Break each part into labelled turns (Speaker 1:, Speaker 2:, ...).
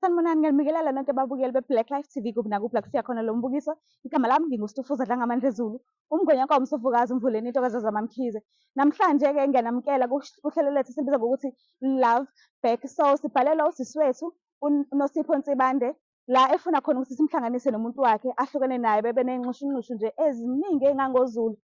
Speaker 1: Sanibonani, ngiyanibingelela nonke ababukeli be-Black Life TV kuphi nakuphi la kufika khona lo mbukiso. Igama lami nginguStufuza Dlangamandla Zulu, umngwenya wakwa uMsofukazi umvuleni into kaZazama Mkhize. Namhlanje-ke ngiyanamukela kuhl- kuhlelo lethu esilubiza ngokuthi Love Back. So sibhalelwa usisi wethu uNosipho Nsibande la efuna khona ukuthi simhlanganise nomuntu wakhe ahlukene naye bebe ney'nxushunxushu nje eziningi ey'ngangozulu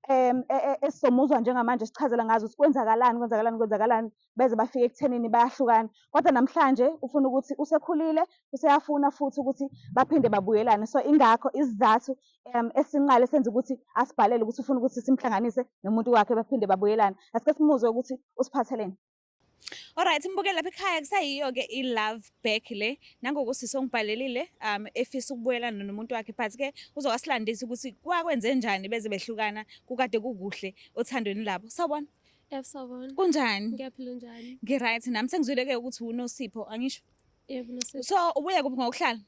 Speaker 1: um e, e, esizomuzwa njengamanje sichazela ngazo ukuthi kwenzakalani kwenzakalani kwenzakalani beze bafike ekuthenini bayahlukana kodwa namhlanje ufuna ukuthi usekhulile useyafuna futhi ukuthi baphinde babuyelane so ingakho isizathu um esinqale senza ukuthi asibhalele ukuthi ufuna ukuthi simhlanganise nomuntu wakhe baphinde babuyelane asike simuzwe ukuthi usiphatheleni
Speaker 2: Alright mbukeli lapha ekhaya kusayiyo ke i love back le nangoku sisongibhalelile um efisa ukubuyela nomuntu wakhe but ke uzowasilandisa ukuthi kwakwenze njani beze behlukana kukade kukuhle othandweni labo sawubona Yebo sawubona
Speaker 3: kunjani ngiyaphila
Speaker 2: njani ngi
Speaker 3: right nami sengizwile
Speaker 2: ke ukuthi unosipho angisho Yebo unosipho
Speaker 3: so ubuye kuphi ngokuhlala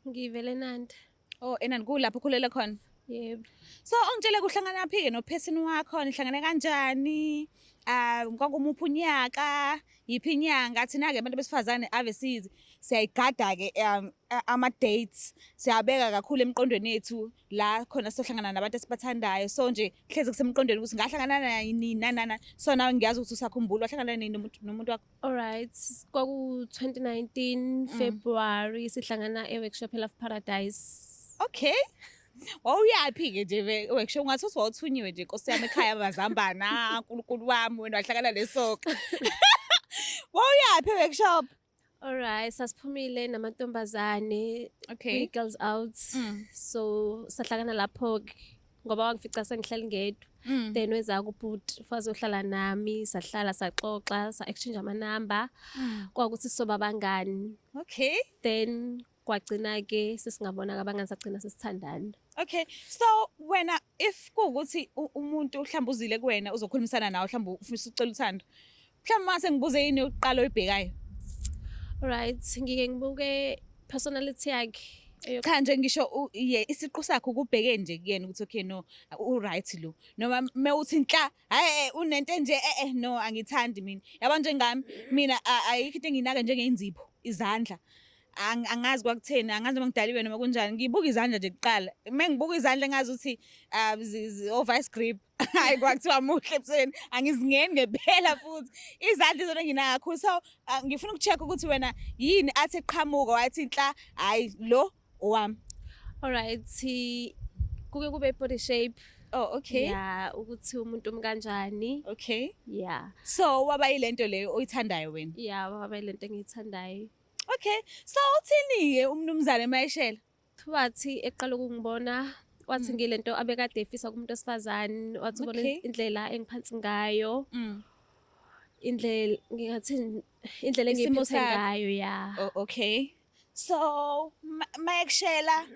Speaker 2: ngivele
Speaker 3: nandi Oh, enani kulapho
Speaker 2: ukhulele khona. Yebo.
Speaker 3: So ongitshele
Speaker 2: kuhlangana phi ke nophesini wakho nihlangane kanjani? Ah kwakumuphi unyaka? Yiphi inyanga? Thina ke abantu besifazane ave sizi siyayigada ke um, a- ama dates. Siyabeka kakhulu emqondweni yethu la khona sohlangana nabantu esibathandayo. So nje hleze kusemqondweni ukuthi ngahlangana nani nana. So nawe ngiyazi ukuthi usakhumbula wahlangana nini nomuntu nomuntu wakho. Alright, kwaku-2019
Speaker 3: February sihlangana e-workshop eLove Paradise. Okay.
Speaker 2: Wawuyaphi-ke nje ve- workshop ngathi uthi wawuthunyiwe nje nkosi yami ekhaya mazambana nkulunkulu wami wena wahlangana nesoka wawuyaphi e-workshop Alright,
Speaker 3: sasiphumile namantombazane okay kwi-girls
Speaker 2: out. Mm.
Speaker 3: So sahlangana lapho-ke. ngoba wangifica sengihleli ngedwa mm. then weza kubhuti faze uhlala nami sahlala saxoxa sa-exchange amanumber mm. kwakuthi sisoba abangani okay
Speaker 2: then
Speaker 3: kwagcina-ke sesingabonaka abangani sagcina sesithandana okay so
Speaker 2: wena if kuwukuthi umuntu mhlawumbe uzile kuwena uzokhulumisana nawe mhlawumbe ufisa ucela uthando Mhlawumbe mase ngibuze yini yokuqala oyibhekayo.
Speaker 3: Right, ngike ngibuke personality yakhe. Cha nje ngisho
Speaker 2: isiqu sakhe ukubheke nje kuyena ukuthi okay no u right lo noma mewuthi inhla hayi eh, unento enje eh eh no angithandi mina yabo njengami mina ayikho into enginaka njengeinzipho izandla angazi kwakutheni angazi noma ngidaliwe noma kunjani ngibuka izandla nje kuqala uma ngibuka izandla ngazi ukuthi ah, o-vice grip hayi kwakuthiwa muhle ebusweni angizingeni ngempela futhi izandla izona nginayo kakhulu so ah, ngifuna uku-check ukuthi wena yini athi eqhamuka wathi nhla hhayi lo owami alright
Speaker 3: kuke kube body shape oh okay ya
Speaker 2: ukuthi umuntu
Speaker 3: umkanjani okay ya
Speaker 2: so
Speaker 3: waba yilento
Speaker 2: leyo oyithandayo wena ya waba yilento
Speaker 3: engiyithandayo okay
Speaker 2: so uthini-ke umnumzane mayeshela Wathi
Speaker 3: eqala ukungibona wathi mm. ngilento abekade efisa kumuntu osifazane wathi ubona indlela engiphansi ngayo mm. indlela ngingathi indlela engiphethe ngayo ya oh, okay
Speaker 2: so mayekushela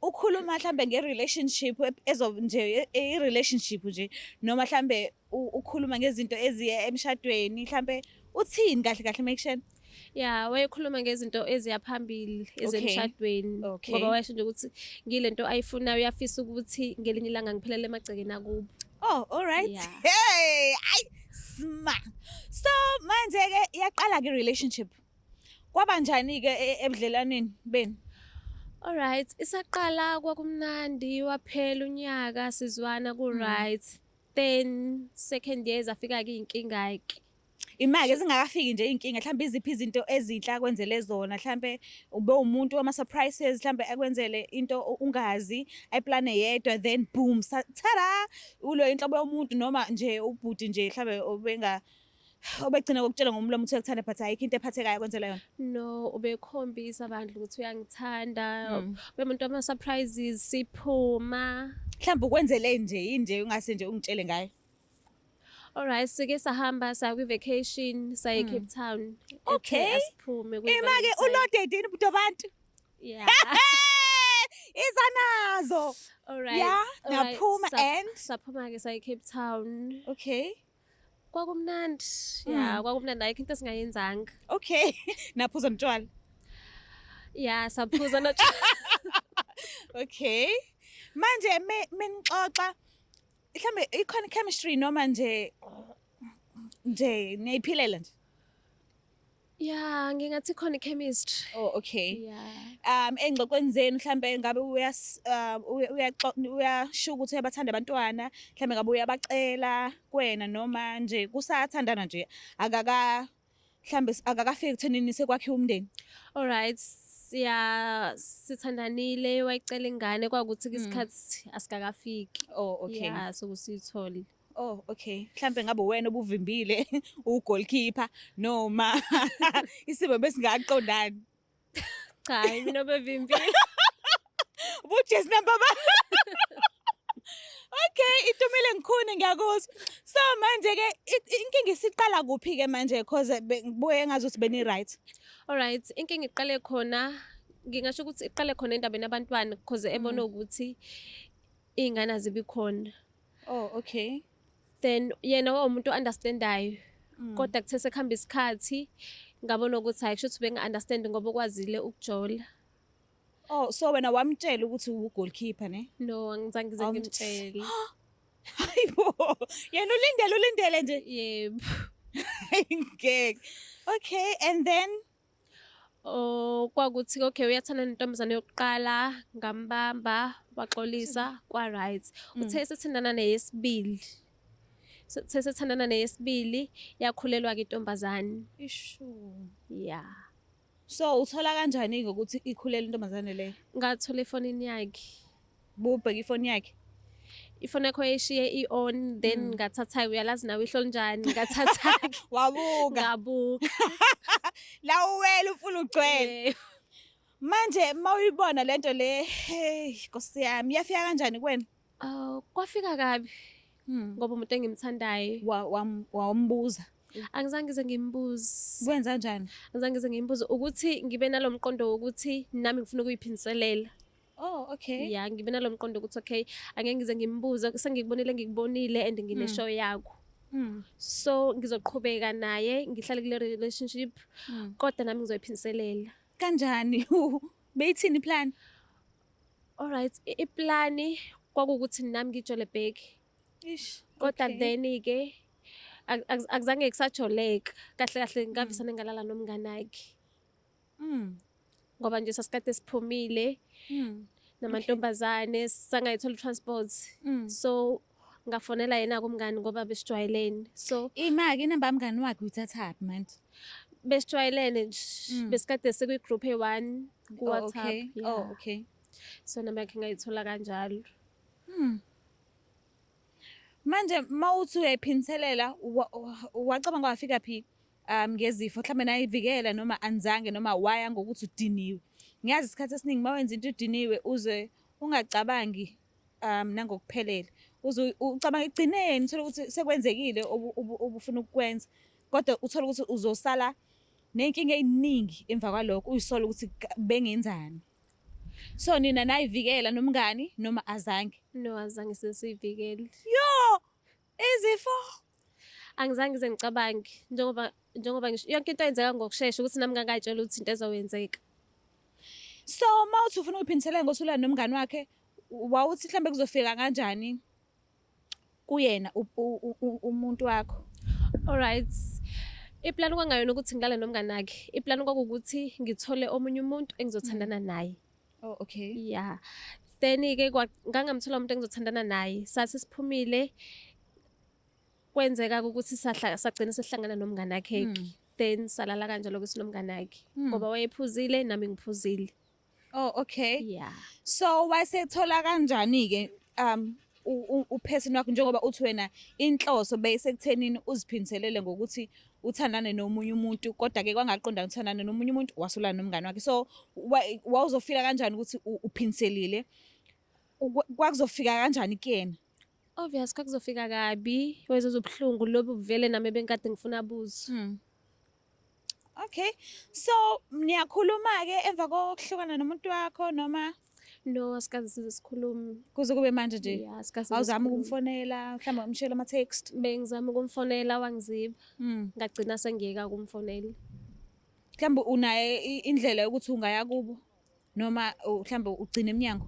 Speaker 2: ukhuluma mhlambe nge relationship ezo nje i relationship nje noma mhlambe ukhuluma ngezinto eziye emshadweni mhlampe uthini kahle kahle make sure ya wayekhuluma
Speaker 3: ngezinto eziya phambili ezemshadweni ngoba wayesho nje ukuthi ngile nto ayifunayo uyafisa ukuthi ngelinye ilanga ngiphelele emagcekeni akubo oh all right
Speaker 2: hey ay sma so manje ke yaqala ke relationship kwaba njani ke e, ebudlelaneni benu All right,
Speaker 3: isaqala kwakumnandi waphela unyaka sizwana ku right. Mm. then second year zafika ke inkinga ke
Speaker 2: imake zingakafiki nje inkinga mhlawumbe iziphi izinto ezinhle akwenzele zona mhlawumbe ube umuntu wama surprises mhlawumbe akwenzele into ungazi ayiplane yedwa then boom tada ulo inhlobo yomuntu noma nje ubhuti nje mhlawumbe obenga Ubegcina ngokutshela ngomlomo ukuthi uyakuthanda but ayikho into ephathekayo kwenzela yona. No, ubekhombisa
Speaker 3: abantu ukuthi uyangithanda. Mm. Bemuntu ama
Speaker 2: surprises
Speaker 3: siphuma. Mhlawumbe ukwenzele
Speaker 2: nje inje ungase nje ungitshele ngayo.
Speaker 3: Alright, sike sahamba sa kwi vacation saye mm. Cape Town. Okay.
Speaker 2: Asiphume kwi.
Speaker 3: Imake ulodede
Speaker 2: ini budo abantu. Yeah. iza nazo. Alright. Yeah,
Speaker 3: naphuma
Speaker 2: and saphuma ke saye Cape
Speaker 3: Town. Okay.
Speaker 2: Kwakumnandi.
Speaker 3: Mm. Yeah, kwakumnandi ayikho into esingayenzanga. Okay.
Speaker 2: Naphuza mtshwala.
Speaker 3: Yeah, saphuza no. okay.
Speaker 2: Manje me menixoxa mhlambe ikhona chemistry noma nje nje niyiphilela nje.
Speaker 3: Yeah, ngingathi khona ichemistry. Oh, okay.
Speaker 2: Yeah. Um
Speaker 3: engxoxweni zenu
Speaker 2: mhlambe ngabe uyas uh, uyasho ukuthi uyabathanda abantwana, mhlambe ngabe uyabacela kwena noma nje kusathandana nje akaka mhlambe akakafiki kuthenini sekwakhe umndeni. All right.
Speaker 3: siya sithandanile wayicela ingane kwakuthi mm. isikhathi asikakafiki oh okay yeah
Speaker 2: so kusithole
Speaker 3: Oh okay,
Speaker 2: mhlambe ngabe wena obuvimbile ugoalkeeper noma isimo besingaqondani.
Speaker 3: Cha, hayi mina obevimbile.
Speaker 2: Ubujesi namba ba. Okay, itumile ngikhuni ngiyakuzwa. So manje ke i- i- inkinga isiqala kuphi ke manje because be- ngibuye ngazi ukuthi beni right. Alright, inkinga
Speaker 3: iqale khona ngingasho ukuthi iqale khona endabeni abantwana because ebona ukuthi iy'ngane azibi khona. Oh okay.
Speaker 2: Then
Speaker 3: yena wawumuntu understandayo. Mm. Kodwa kuthe sekuhamba isikhathi ngabona ukuthi hayi kusho ukuthi benga understand ngoba ukwazile ukujola. Oh
Speaker 2: so wena wamtshela ukuthi uwu goalkeeper ne? No angizange ngize
Speaker 3: ngimtshele. Hayibo.
Speaker 2: Yena ulindele ulindele nje. Yebo. Ngeke. Okay and then Oh,
Speaker 3: kwakuthi okay uyathanda nentombazane yokuqala ngambamba waxolisa kwa right mm. uthe sethindana neyesibili uthe sethandana neyesibili yakhulelwa ke intombazane ishu
Speaker 2: yeah
Speaker 3: so
Speaker 2: uthola kanjani ukuthi ikhulela intombazane le ngathola efonini
Speaker 3: yakhe bubheka
Speaker 2: ifoni yakhe ifoni yakho
Speaker 3: yayishiye i-on then mm. ngathatha-ke uyalazi nawe ihlo linjani ngathatha-ke wabuka
Speaker 2: ngabuka la uwela ufuna ugcwele manje uma uyibona le nto le hey nkosi yami iyafika kanjani kuwena um kwafika
Speaker 3: kabi hmm. ngoba umuntu engimthandayo wambuza
Speaker 2: angizange ngize
Speaker 3: ngimbuze kwenza njani
Speaker 2: angizange ngize ngimbuze
Speaker 3: ukuthi ngibe nalo mqondo wokuthi nami ngifuna ukuyiphindiselela Oh okay.
Speaker 2: Yeah, ngibe nalomqondo
Speaker 3: ukuthi okay, angeke ngize ngimbuze, sengikubonile ngikubonile and ngine mm. show yakho. Mm. So ngizoqhubeka naye, ngihlale kule relationship mm. kodwa nami ngizoyiphindiselela. Kanjani?
Speaker 2: Beyithini plan? All
Speaker 3: right, iplani kwakukuthi nami ngijole back. Ish.
Speaker 2: Kodwa okay. then
Speaker 3: ke akuzange kusajoleka kahle kahle ngavisane ngalala nomnganakhe Mm. Ngoba nje sasikade siphumile. Mm. Namantombazane sangayithola transport. Mm. So ngafonela yena kumngani ngoba besijwayelene. So imake inamba mngani
Speaker 2: wakhe uyithathaphi manje? Besijwayelene
Speaker 3: nje. Mm. Besikade sikwi group e1 ku WhatsApp. Oh, okay. Yeah. Oh, okay.
Speaker 2: So namba yakhe
Speaker 3: ngayithola kanjalo. Mm.
Speaker 2: Manje mawuthi uyayiphinselela wacabanga wafika phi? um ngezifo mhlawumbe nayivikela noma anzange noma waya ngokuthi udiniwe ngiyazi isikhathi esiningi uma wenza into udiniwe uze ungacabangi um nangokuphelele uze ucabanga ekugcineni uthole ukuthi sekwenzekile obufuna ukukwenza kodwa uthole ukuthi uzosala nenkinga eyiningi emva kwalokho uyisola ukuthi bengenzani so nina nayivikela nomngani noma azange no azange
Speaker 3: sesiyivikele yo
Speaker 2: Izifo
Speaker 3: angizange ngize ngicabange njengoba njengoba ngisho yonke into yenzeka ngokushesha ukuthi nami ngangayitshela ukuthi into ezoyenzeka.
Speaker 2: So uma uthi ufuna ukuphindiselela ngosulana nomngani wakhe wawuthi mhlambe kuzofika kanjani kuyena umuntu wakho? Alright.
Speaker 3: Iplan kwangayona ukuthi ngilale nomngani wakhe. Iplan kwakukuthi ngithole omunye umuntu engizothandana naye. Oh okay.
Speaker 2: Yeah.
Speaker 3: Then ke ngangamthola umuntu engizothandana naye. Sathi siphumile kwenzeka ukuthi sahla sagcina sehlangana nomngane wakhe. Hmm. Then salala kanjalo ukuthi nomngane wakhe hmm. ngoba wayephuzile nami ngiphuzile. Oh okay.
Speaker 2: Yeah. So
Speaker 3: wasethola
Speaker 2: kanjani ke um uphesini wakho njengoba uthi wena inhloso beyisekuthenini uziphindiselele ngokuthi uthandane nomunye umuntu kodwa-ke kwangaqondana uthandane nomunye umuntu wasulana nomngane wakhe so wawuzofila kanjani ukuthi uphindiselile kwakuzofika kanjani kuyena obvious
Speaker 3: kwakuzofika kabi wezozwa ubuhlungu lobu vele nami benkade ngifuna buzo hmm.
Speaker 2: Okay. So niyakhuluma ke emva kokuhlukana nomuntu wakho noma No, asikaze
Speaker 3: size sikhulume. kuze kube manje nje?
Speaker 2: Yeah, asikaze size Awuzami sikhulume.
Speaker 3: ukumfonela,
Speaker 2: mhlawumbe
Speaker 3: umshela
Speaker 2: ama text. Bengizama ukumfonela
Speaker 3: wangiziba. Mm. Ngagcina sengiyeka ukumfonela. Mhlawumbe
Speaker 2: unaye i- indlela yokuthi ungaya kubo. noma mhlawumbe ugcina emnyango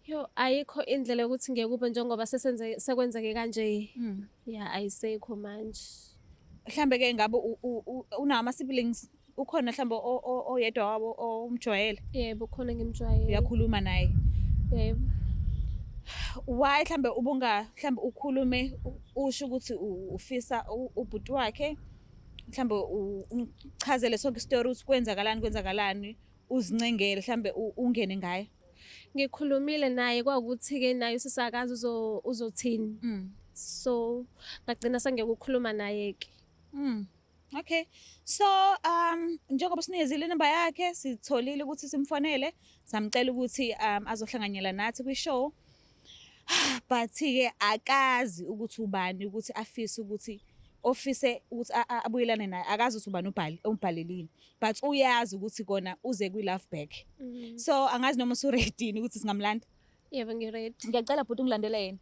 Speaker 3: yo ayikho indlela yokuthi ngeke kube njengoba sesenze sekwenzeke kanje mm. ya ayisekho manje mhlambe ke
Speaker 2: ngabe unawo ama siblings ukhona mhlambe oyedwa wabo omjwayele yebo khona
Speaker 3: ngimjwayele uyakhuluma naye
Speaker 2: yebo why mhlambe ubunga mhlambe ukhulume usho ukuthi ufisa ubhuti wakhe mhlambe umchazele sonke isitori ukuthi kwenzakalani kwenzakalani uzincengele mhlambe ungene ngayo ngikhulumile
Speaker 3: naye kwakuthi-ke naye usisakazi uzothini mm. so ngagcina sengekukhuluma naye-ke mm.
Speaker 2: okay so um njengoba sinikezile inamba yakhe sitholile ukuthi simfonele samcela ukuthi um azohlanganyela nathi kwi-show but-ke akazi ukuthi ubani ukuthi afise ukuthi ofise ukuthi abuyelane naye akazi ukuthi ubani ubhali umbhalelile but uyazi ukuthi kona uze kwi love back mm-hmm. so angazi noma usu ready ukuthi singamlanda yebo ngi ready
Speaker 3: ngiyacela bhuti ungilandela
Speaker 2: yena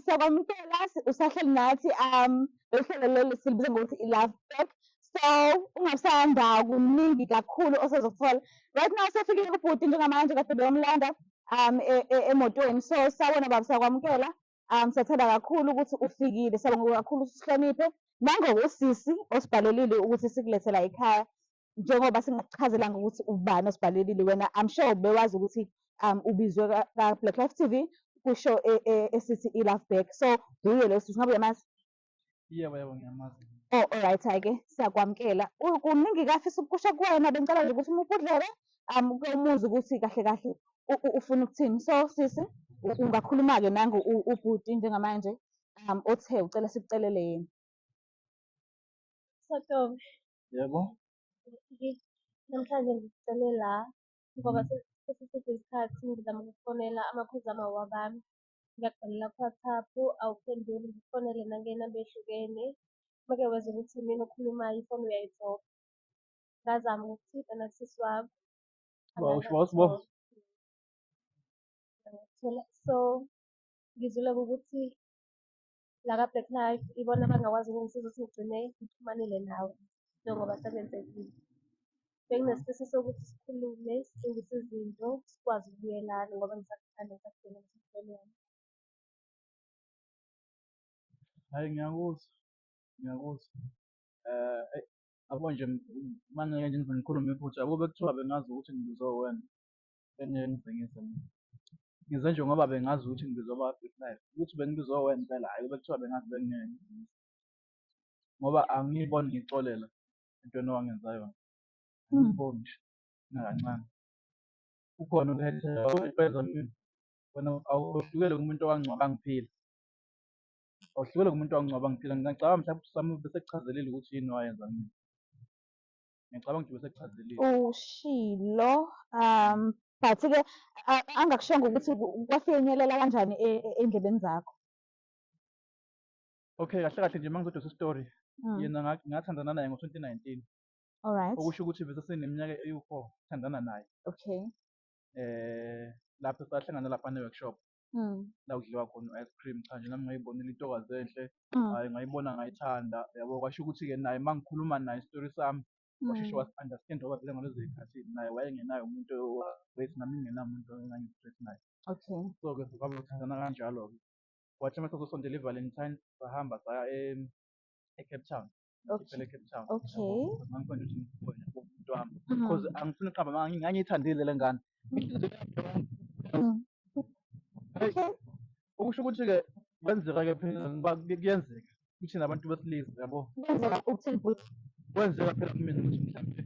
Speaker 1: siyakwamukela usahleli nathi um uhlelo lolu silibiza ngokuthi i-love back so ungasanda kuningi kakhulu osezothola right now sefikile kubhuti njengamanje kade beyomlanda um e, e, emotweni so sawona baba siyakwamukela um siyathanda kakhulu ukuthi ufikile siyabonga kakhulu ukuthi usihloniphe nangokusisi osibhalelile ukuthi sikulethela ekhaya njengoba singakuchazelanga ukuthi ubani osibhalelile wena i'm sure bewazi ukuthi um ubizwe ka-black life tv kwishow e, e, esithi i-love back so nguye lo sisi ngabe uyamazi yebo yebo
Speaker 4: ngiyamazi oh alright ake
Speaker 1: siyakwamukela kuningi kafisa ukukusha kuwena bengicela nje ukuthi uma ubudlele um umuzi ukuthi kahle kahle ufuna ukuthini so sisi ungakhuluma-ke nangu ubhuti njengamanje um othe ucela sikucelele yena
Speaker 3: sotobe Yebo. Namhlanje ngicele la ngoba sesiside isikhathi ngizama ukufonela amakhozi amawabami. Ngiyakubhalela ku-WhatsApp awuphenduli, ngikufonele nangenamba ehlukene. Make wezwa ukuthi imina okhulumayo ifoni uyayidobha. Ngazama ukuthinta nakusisi wakho. So ngizwile ukuthi la ka-Black Life ibona abangakwazi ukungisiza ukuthi ngigcine ngixhumanile nawe njengoba sekwenzekile. Benginesifiso sokuthi sikhulume, silungise izinto, sikwazi ukubuyelana ngoba ngisakuthanda, ngisakudinga ukuthi sibuyelane.
Speaker 4: Hhayi ngiyakuzwa, ngiyakuzwa. Eyi yabo nje uma ngingeke nje ngize ngikhulume iphutha ukube kuthiwa bengazi ukuthi ngibizwe uwena, bengeke ngigcingise mina ngize nje ngoba bengazi ukuthi ngizoba big life ukuthi bengizowe impela hhayi bekuthiwa bengazi bengingeke ngigcingise ngoba angiyiboni ngixolela entweni owangenza yona angiyiboni nje nakancane ukhona ukhethelo impela empilo wena awuhlukele kumuntu owangcwaba ngiphila awuhlukele kumuntu owangcwaba ngiphila ngingacabanga mhlawumbe sami bese kuchazelile ukuthi yini wayenza mina ngiyacabanga ukuthi besekuchazelile ushilo
Speaker 1: um but ke a- angakushongo ukuthi ku- kwafinyelela kanjani e- e- endlebeni zakho
Speaker 4: okay kahle kahle nje uma ngizodosa isitori Mm, yena nga- ngathandana naye ngo-2019 all right
Speaker 1: okusho ukuthi bese
Speaker 4: seneminyaka ewu-four thandana naye
Speaker 1: okay
Speaker 4: um lapho sahlangana lapha ne-workshop la kudliwa khona u-ice cream. Cha nje nami ngayibonela intokazi enhle, hhayi ngayibona ngayithanda yabo. Kwasho ukuthi-ke naye uma ngikhuluma naye isitori sami washeshe wasi-understand-a ngoba vele ngalezo y'khathi naye wayengenaye umuntu owu-straight nami ngingenamuntu engangi-straight naye. So-ke
Speaker 1: sabe sithandana
Speaker 4: kanjalo-ke. Kwathi uma sesizosondela i-valentine sahamba saya e-Cape Town. ngiphele Cape Town
Speaker 1: Okay.
Speaker 4: mangikwenda
Speaker 1: ukuthi
Speaker 4: ngikhona umuntu wami Mhm. because angifuni uqamba amanga ngi- ngangiyithandile le ngane Mm.
Speaker 1: Hey. Okay. okusho
Speaker 4: ukuthi-ke kwenzeka-ke phela ngoba ku- kuyenzeka kuthina abantu besilisa yabo Kwenzeka ukuthini futhi?
Speaker 1: kwenzeka phela
Speaker 4: kumina ukuthi mhlawumbe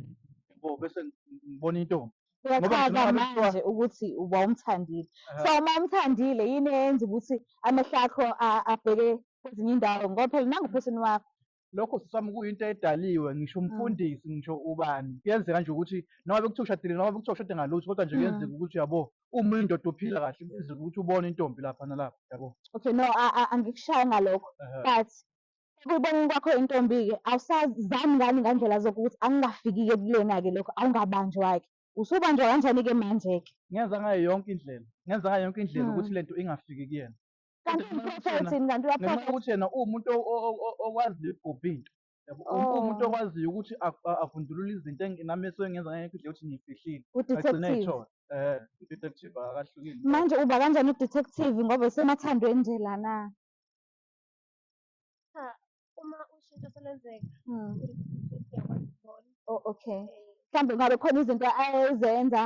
Speaker 4: yabo bese ngibona intombi ngoba Uyachaza ngicabanga
Speaker 1: ngabe kuthiwa manje ukuthi wawumthandile. ehe, So uma umthandile yini eyenza ukuthi amehlo akho a- abheke kwezinye indawo ngoba phela nangu uphethini wakho. lokho sisi wami
Speaker 4: kuyinto edaliwe ngisho Mm. umfundisi ngisho ubani kuyenzeka nje ukuthi noma bekuthiwa ushadile noma bekuthiwa ushade ngalutho kodwa nje Mm. kuyenzeka ukuthi uyabo uma uyindoda uphila kahle kuyenzeka ukuthi ubone intombi lapha nalapha yabo Okay no a- a-
Speaker 1: angikushayi ngalokho ehe, but Ekuboneni kwakho intombi-ke awusazami ngani ngandlela zonke ukuthi angingafiki-ke kulena-ke lokho awungabanjwa-ke. Usubanjwa kanjani-ke manje-ke? Ngenza ngayo yonke
Speaker 4: indlela, ngenza ngayo yonke indlela ukuthi le nto ingafiki kuyena. Kanti umphrofetha
Speaker 1: uthini kanti ngenxa uyaphrofetha? yokuthi yena
Speaker 4: uwumuntu
Speaker 1: o- o-
Speaker 4: o- o- okwaziyo ukugubha into. Yabo, u- Oh. Uwumuntu okwaziyo ukuthi a- a- avundulule izinto eng- nami esuke ngenza ngayo yonke indlela ukuthi ngiyifihlile. Agcine Udetective. eyithola.
Speaker 1: Eh,
Speaker 4: i-detective akahlukile. Manje uba kanjani
Speaker 1: udetective ngoba usemathandweni nje lana?
Speaker 3: Cha, uma ushintsho selenzeka uyakwazi ukubona.
Speaker 1: Oh, okay. Eh, Mhlawumbe ngabe khona izinto ayezenza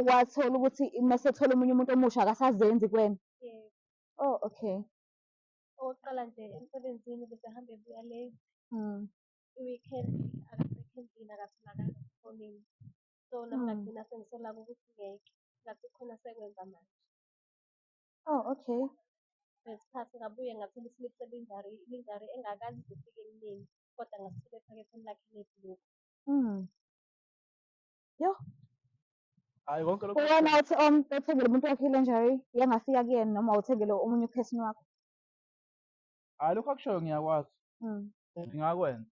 Speaker 1: wathola ukuthi uma sethola omunye umuntu omusha akasazenzi kuwena. eh, Oh, okay. okokuqala
Speaker 3: nje emsebenzini bese hambe buya late. Mm.
Speaker 1: i-weekend
Speaker 3: akasekho endlini akatholakali esikoleni so nami Mm. ngagcina sengisola ukuthi ngeke ngathi khona sekwenza manje
Speaker 1: Oh, okay. Ngesikhathi
Speaker 3: ngabuye ngathola isiliphu selinjari, ilinjari engakaze ize ifike emneni kodwa ngasithola ephaketheni lakhe lebhuluku. Mm.
Speaker 1: Yo,
Speaker 4: Hayi konke lokhu uwena othi om
Speaker 1: othengele umuntu wakhe ilenjari yangafika kuyena noma uthengele omunye uphesini wakho.
Speaker 4: hayi lokho akushoyo ngiyakwazi Mm. ngingakwenza.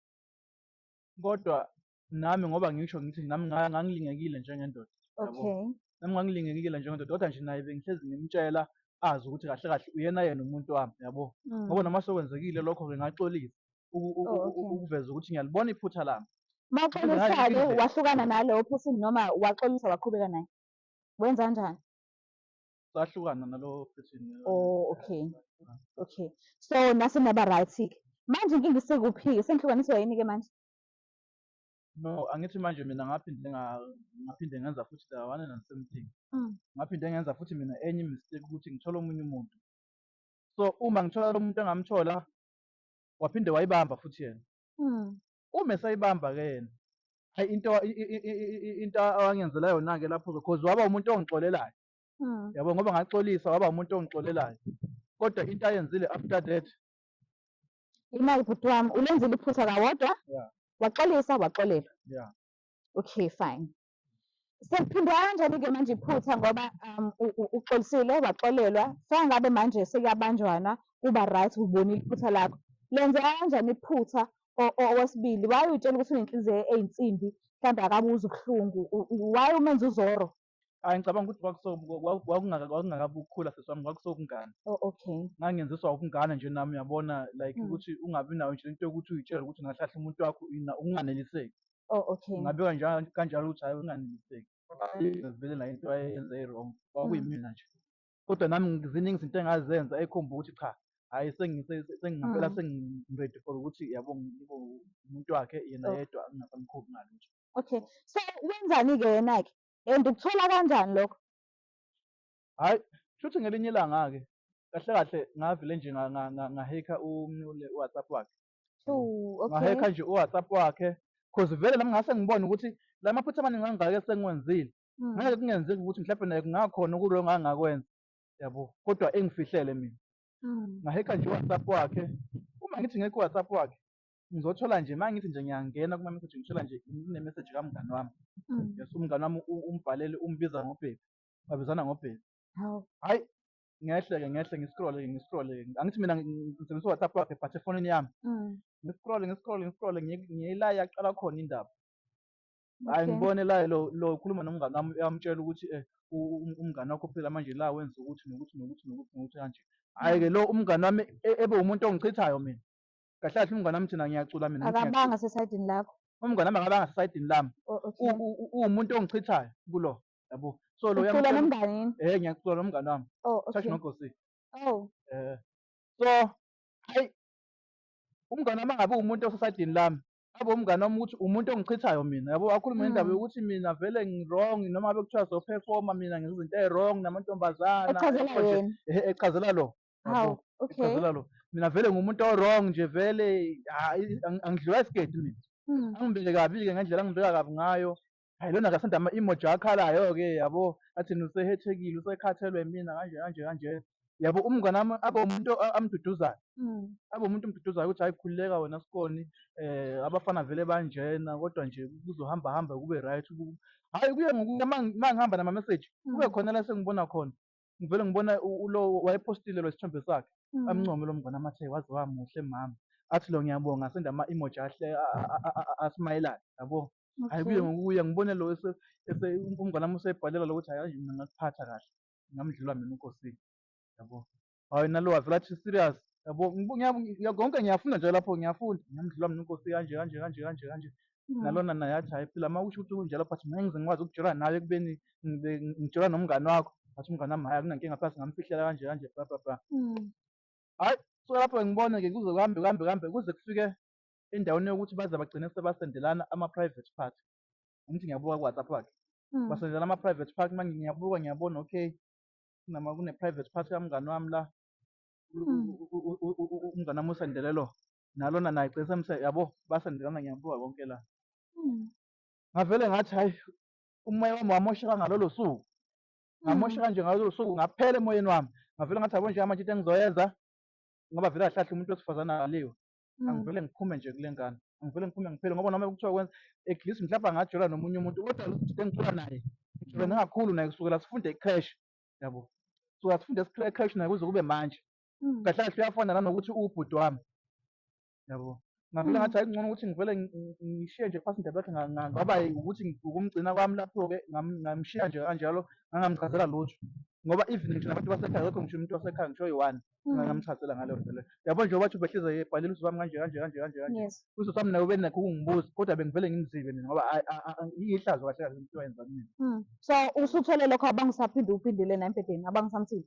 Speaker 4: Kodwa nami ngoba ngisho ngithi nami nga- ngangilingekile njengendoda yabo. okay nami
Speaker 1: ngangilingekile
Speaker 4: njengendoda kodwa nje naye bengihlezi ngimtshela azi ukuthi kahle kahle uyena yena umuntu wami yabo Mm. ngoba noma sekwenzekile lokho-ke ngaxolisa uku- uku- Oh, uku- okay. ukuveza ukuthi ngiyalibona iphutha lami mawuxolisa-ke Ngize-
Speaker 1: wahlukana nalowo person noma waxolisa waqhubeka naye wenza kanjani
Speaker 4: sahlukana nalowo person Oh, okay.
Speaker 1: okay so nase naba right-ke manje inkinga isekuphi-ke senihlukaniswa yini-ke manje
Speaker 4: No, angithi manje mina ngaphinde nga- ngaphinde ngenza futhi the one and the same thing. Mm. Ngaphinde ngenza futhi mina enye mistake ukuthi ngithola omunye umuntu. So uma ngithola lo muntu engamthola waphinde wayibamba futhi yena. Mm. Uma esayibamba ke yena hayi into i- i- i- i- i- into awangenzela yona ke lapho because waba umuntu ongixolelayo. Mm. Yabo ngoba ngaxolisa waba umuntu ongixolelayo. Kodwa into ayenzile after that
Speaker 1: Imali bhuti wami ulenzile iphutha kawodwa Yeah. waxolisa
Speaker 4: waxolelwa.
Speaker 1: Yeah.
Speaker 4: Okay
Speaker 1: fine. Sekuphindwa kanjani ke manje iphutha ngoba um, u- u- uxolisile waxolelwa sengabe manje sekuyabanjwana kuba right ubonile iphutha lakho. Lenzeka kanjani iphutha o- o- owesibili why utshela ukuthi unenhliziyo eyinsimbi mhlawumbe akabuzi ubuhlungu u- u- why umenza uzoro Ayi ngicabanga ukuthi
Speaker 4: kwakuso kwaku- kwakungaka- kwakungakabi ukukhula sisi wami kwakusokungane. Oh, okay.
Speaker 1: Ngangenziswa ubungane
Speaker 4: nje nami uyabona like Mm. ukuthi ungabi nayo nje into yokuthi uyitshele ukuthi ungahlahla umuntu wakho ina ukunganeliseki. Oh, okay.
Speaker 1: Ngabe kanjalo kanjalo
Speaker 4: ukuthi hayi unganeliseki. Ngizibele nayo into ayenze i-wrong Mm. kwakuyimina nje. Kodwa nami ngi- ziningi izinto engazenza ekhomba ukuthi cha hhayi sengi- se- se- sengingampela Mm. sengi-ready for ukuthi yabo ngibe umuntu wakhe yena Ah. yedwa ngingasamkhuphi ngalutho. Okay. So
Speaker 1: wenzani-ke yena-ke? And ukuthola kanjani lokho?
Speaker 4: Hhayi, shuthi ngelinye ilanga-ke kahle kahle ngavele nje nga- nga- nga- ngahekha umnule u-WhatsApp wakhe. Ooh, okay.
Speaker 1: Ngahekha nje
Speaker 4: u-WhatsApp wakhe cause vele nami ngase ngibone ukuthi la maphutha amaningi angaka esengiwenzile Mm. ngeke kungenzeki ukuthi mhlawumbe naye kungakhona okurongo angakwenza yabo kodwa engifihlele mina Mm. ngahekha nje u-WhatsApp wakhe uma ngithi ngekho u-WhatsApp wakhe ngizothola nje uma ngithi nje ngiyangena kuma-message ngithola nje kunemessage kamngani wami Mm. yes umngani wami u- umbhalele umbiza ngobhebi babizana ngobhebi Hawu. hhayi ngehle-ke ngehle ngiscrolle-ke ngiscrolle-ke angithi mina ngi- ngi- ngisebenzisa u-whatsapp wakhe but efonini yami Mm. ngiscrolle ngiscrolle ngiscrolle ngiye- ngiye la yaqala khona indaba hhayi Okay. ngibone la lo lo ukhuluma nomngani wami uyamtshela ukuthi um umngani wakho phela manje la wenza ukuthi nokuthi nokuthi nokuthi nokuthi kanje hhayi-ke lo umngani wami e- ebe umuntu ongichithayo mina kahle kahle umngane wami thina ngiyacula mina ngithi ngiyacula. akabanga
Speaker 1: sesayidini
Speaker 4: lakho umngane wami akabanga sesayidini lami O- o- U- u- u-
Speaker 1: uwumuntu
Speaker 4: ongichithayo kulo yabo so lo ucula uyamtshela nomngane yini eh
Speaker 1: ngiyacula nomngane wami
Speaker 4: oh church okay nogosi oh
Speaker 1: eh so
Speaker 4: hayi umngane wami angabe umuntu osesayidini lami abe umngane wami ukuthi umuntu ongichithayo mina yabo akhulume ngendaba Mm. yokuthi mina vele ngi-wrong noma ngabe kuthiwa sophefoma mina ngizinto ezi-wrong namantombazana echazela yabo nje. yena
Speaker 1: Ehe, echazela
Speaker 4: lo Hawu, Yabo, okay.
Speaker 1: ngicazela lo mina vele
Speaker 4: ngumuntu owrong nje vele hayi ang- angidliwa isigeti mina Mm. angibeke kabi-ke ngendlela angibeka kabi ngayo hayi lona kasanda ama-emoji akhalayo-ke yabo athini usehethekile usekhathelwe mina kanje kanje kanje yabo umngane wami abe umuntu a- amduduzayo Mm. abe umuntu omduduzayo ukuthi hayi khululeka wena sikoni um abafana vele banjena kodwa nje kuzohamba hamba kube right Ku- hhayi kuye ngokuya ma ma ngihamba namameseji kube Mm. khona la sengibona khona ngivele ngibona ulo wayepostile lo sithombe sakhe mm. amncome lo mngane amathe waze wamuhle mama athi lo ngiyabonga senda ama emoji ahle asmayelana yabo hayi kuye ngokuya ngibone lo ese umngane wami usebhalela lokuthi hayi mina ngakuphatha kahle ngamdlula mina inkosini yabo hayi nalo wavela athi serious yabo konke ngiyafunda nje lapho ngiyafunda ngiyamdlula mina inkosi kanje kanje kanje kanje kanje Mm. nalona naye athi hayi phela uma usho ukuthi kunjalo but mina ngize ngikwazi ukujola nawe ekubeni ngibe ngijola nomngani wakho athi umngani wami hhayi akunankinga phela singamfihlela kanje kanje bla bla bla Mm. hhayi so lapho ngibone-ke kuze kuhambe kuhambe kuhambe kuze kufike endaweni yokuthi baze bagcine sebasendelana ama-private part angithi ngiyabuka ku-whatsapp wakhe Mm. basendelana ama-private part manje ngiyabuka ngiyabona okay kunama kune-private part kamngani wami la U- Mm. u- u- u- u- u- umngani wami usendele lo nalona naye gcine semse yabo basendelana ngiyabuka konke la Hmm. ngavele ngathi hayi umoya wami wamosheka ngalolo suku ngamosheka nje ngalolo suku ngaphela emoyeni wami ngavele ngathi yabo njengamanje into engizoyenza ngoba vele ahlahle umuntu wesifazane akaliwe Hmm. angivele ngiphume nje kule ngane angivele ngiphume ngiphele ngoba noma kuthiwa kwenza at least mhlawumbe angajola nomunye umuntu kodwa lo bhuti engicula naye ngijole ngingakhulu naye kusukela sifunde ecrash yabo kusukela sifunde ecrash naye kuze kube manje Mm. kahle kahle uyafana nanokuthi uwubhuti wami yabo ngavele Mm. ngathi hayi kungcono ukuthi ngivele ngi- ngi- ngishiye nje phasi indaba yakhe nga- nga- ngaba yi- ukuthi ngi- ukumgcina kwami lapho-ke ngam- ngamshiya nje kanjalo ngangamchazela lutho ngoba even ngisho nabantu basekhaya akekho ngisho umuntu wasekhaya ngisho oyi-one Mm. ngangamchazela ngaleyo nto leyo yabo nje wathi ubehleze yebhalile usuku wami kanje kanje kanje kanje kanje yes usuku wami naye ubenakho ukungibuza kodwa bengivele ngimzibe mina ngoba ayi- a- a- a- ihlazo kahle kahle into wayenza kumina Mm. so usuthole
Speaker 1: lokho abangisaphinde uphindile naye embhedeni abangisamthile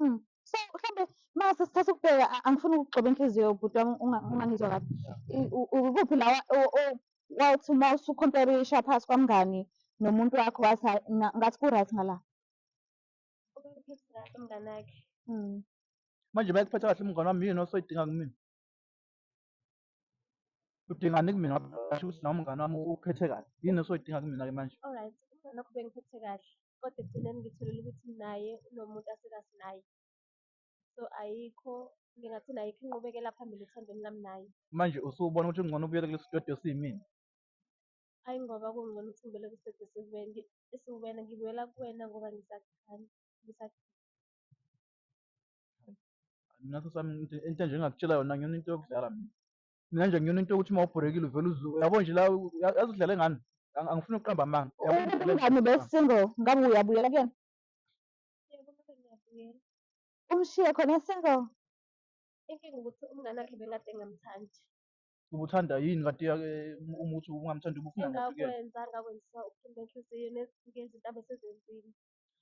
Speaker 3: Mm. So mhlambe
Speaker 1: mase sithatha ukubheka a- angifuni ukugxoba inhliziyo yobhuti wami unga- ungangizwa kabi. I- u- u- Ukuphi la wa- o- o- wathi uma usucompare isha phasi kwamngani nomuntu wakho wathi hayi na- ngathi ku-right ngala. Ubekuphethe
Speaker 3: kahle umngane wakhe. Mm.
Speaker 4: manje bayakuphetha kahle umngane wami yini osoyidinga kumina udingani kumina ngasho ukuthi nawe umngane wami ukhethe kahle yini esoyidinga kumina-ke manje Alright, nokho
Speaker 3: bengiphethe kahle. Kodwa ekugcineni ngitholile ukuthi naye unomuntu asekazi naye. So ayikho ngingathi nayikho inqubekela phambili ethandweni lami naye. manje usubona ukuthi
Speaker 4: kungcono ubuyele kulesi dodi osiyimina
Speaker 3: Ayi ngoba kungcono ukuthi ngibele kusedwe siwena esiwena ngibuyela kuwena ngoba ngisakuthanda. Ngisakuthanda.
Speaker 4: Naso sami into into nje engakutshela yona ngiyona into yokudlala mina. Mina nje ngiyona into yokuthi uma ubhorekile uvele uzu yabo nje la u- ya- yazi udlale ngani. Ang- Angifuni ukuqamba amanga. Yabo nje udlale Umngani ngani. ube
Speaker 1: single ngabe uyabuyela kuyena Yebo,
Speaker 3: kodwa ngiyabuyela. umshiye
Speaker 1: khona single Inkinga
Speaker 3: ukuthi umngane wakhe bengade engamthandi. Ubuthanda
Speaker 4: yini kanti ya- eh, uma uthi ungamthandi ubufuna ngaphi kuyena. Engakwenza ngakwenzisa uphumba
Speaker 3: enhliziyo nezinto abe sezenzile.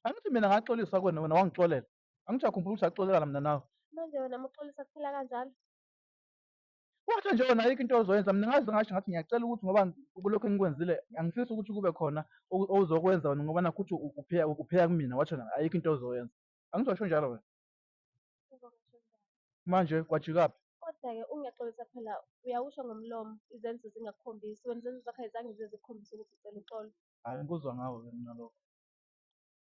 Speaker 3: Angithi mina
Speaker 4: ngaxolisa kuwena wena wangixolela. Angichakhumbula ukuthi saxolelana mina nawe. Manje wena muxolisa
Speaker 3: kuphela kanjalo.
Speaker 4: Wathi nje wena ayikho into ozoyenza mina ngaze ngasho ngathi ngiyacela ukuthi ngoba kulokho engikwenzile angifisi ukuthi kube khona oku- ozokwenza wena ngoba nakho ukuthi u- upheya upheya kumina wathi wena ayikho into ozoyenza. Angizosho njalo wena. Uzongasho njani? Manje kwajikaphi? Kodwa-ke ungiyaxolisa
Speaker 3: phela uyawusho ngomlomo izenzo zingakukhombisi wena izenzo zakho ayizange zize zikukhombise ukuthi ucela uxolo. Hayi ngikuzwa ngawe
Speaker 4: ke mina lokho.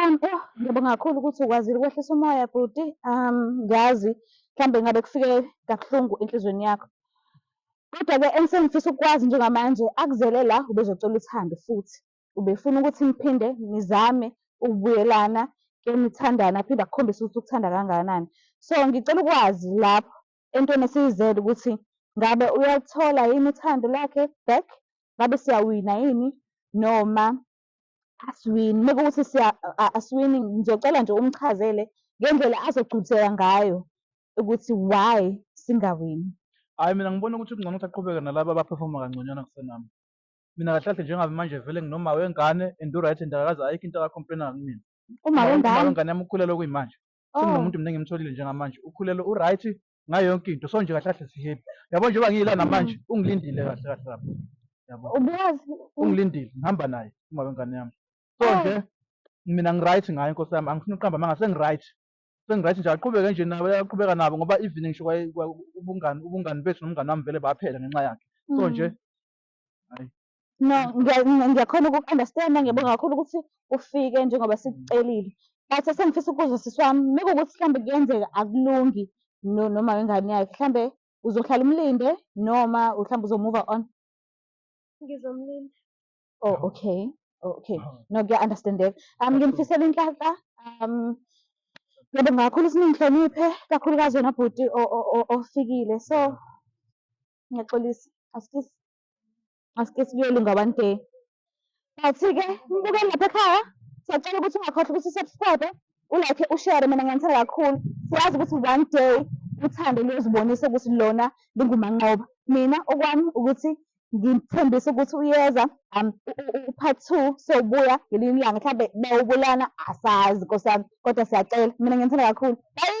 Speaker 1: Um, oh, ngiyabonga kakhulu ukuthi ukwazile ukwehlisa umoya bhuti. Um, ngiyazi mhlawumbe ngabe kufike kabuhlungu enhlizweni yakho. Kodwa-ke engisengifisa ukukwazi njengamanje akuzele la ubezocela uthando futhi. Ubefuna ukuthi niphinde nizame ukubuyelana ke nithandane aphinde akukhombise ukuthi ukuthanda kangakanani. So ngicela ukwazi lapho entweni esiyizele ukuthi ngabe uyalithola yini uthando lwakhe back, ngabe siyawina yini noma asiwini. Uma kuwukuthi siya asiwini ngizocela nje umchazele ngendlela azogculiseka ngayo ukuthi why singawini. Hhayi mina
Speaker 4: ngibona ukuthi kungcono ukuthi aqhubeke nalaba abaphefoma kangconywana kusenami. Mina kahle kahle njengabe manje vele nginoma wengane and u-right and akakaze ayikho into akakhompleyina ngakumina. Uma wengane. Uma
Speaker 1: wengane yami ukhulelwe kuyimanje.
Speaker 4: Oh. senginomuntu mina engimtholile njengamanje ukhulelwe uright ngayo yonke into so nje kahle kahle sihappy yabo njengoba ngiyila namanje ungilindile kahle kahle lapho yabo Ubuyazi
Speaker 1: ungilindile ngihamba
Speaker 4: naye uma wengane yami so Oh. nje mina ngiright ngayo inkosi yami angifuni uqamba amanga sengiright sengiright nje aqhubeke nje nabo aqhubeka nabo ngoba even ngisho kwaye- kwa- ubungani ubungani bethu nomngane wami vele baphela ngenxa yakhe so nje No,
Speaker 1: ngiya- ngiya- ngiyakhona uku-understand-a ngiyabonga kakhulu ukuthi ufike njengoba sikucelile. But esengifisa ukubuza sisi wami, mekuwukuthi mhlambe kuyenzeka akulungi no- noma wengane yakhe, mhlambe uzohlala umlinde noma mhlambe uzomuva on?
Speaker 3: Ngizomlinda.
Speaker 1: Oh, okay. Oh, okay. No, kuya-understand-eka. Um, ngimfisela inhlanhla. Um, ngiyabonga kakhulu ukuthi ningihloniphe, kakhulukazi wena bhuti o- o- o- ofikile. So, ngiyaxolisa asikisi asikisi kuyolunga one day but-ke mbukeli lapha ekhaya siyacela ukuthi ungakhohlwa ukuthi usubscribe ulike ushere mina ngiyanithanda kakhulu siyazi ukuthi one day uthando luyozibonisa ukuthi lona lingumanqoba mina okwami ukuthi ngithembisa ukuthi uyeza um, upart two sobuya ngelinye ilanga mhlawumbe bawubulana asazi nkosi yami kodwa siyacela mina ngiyanithanda kakhulu bayi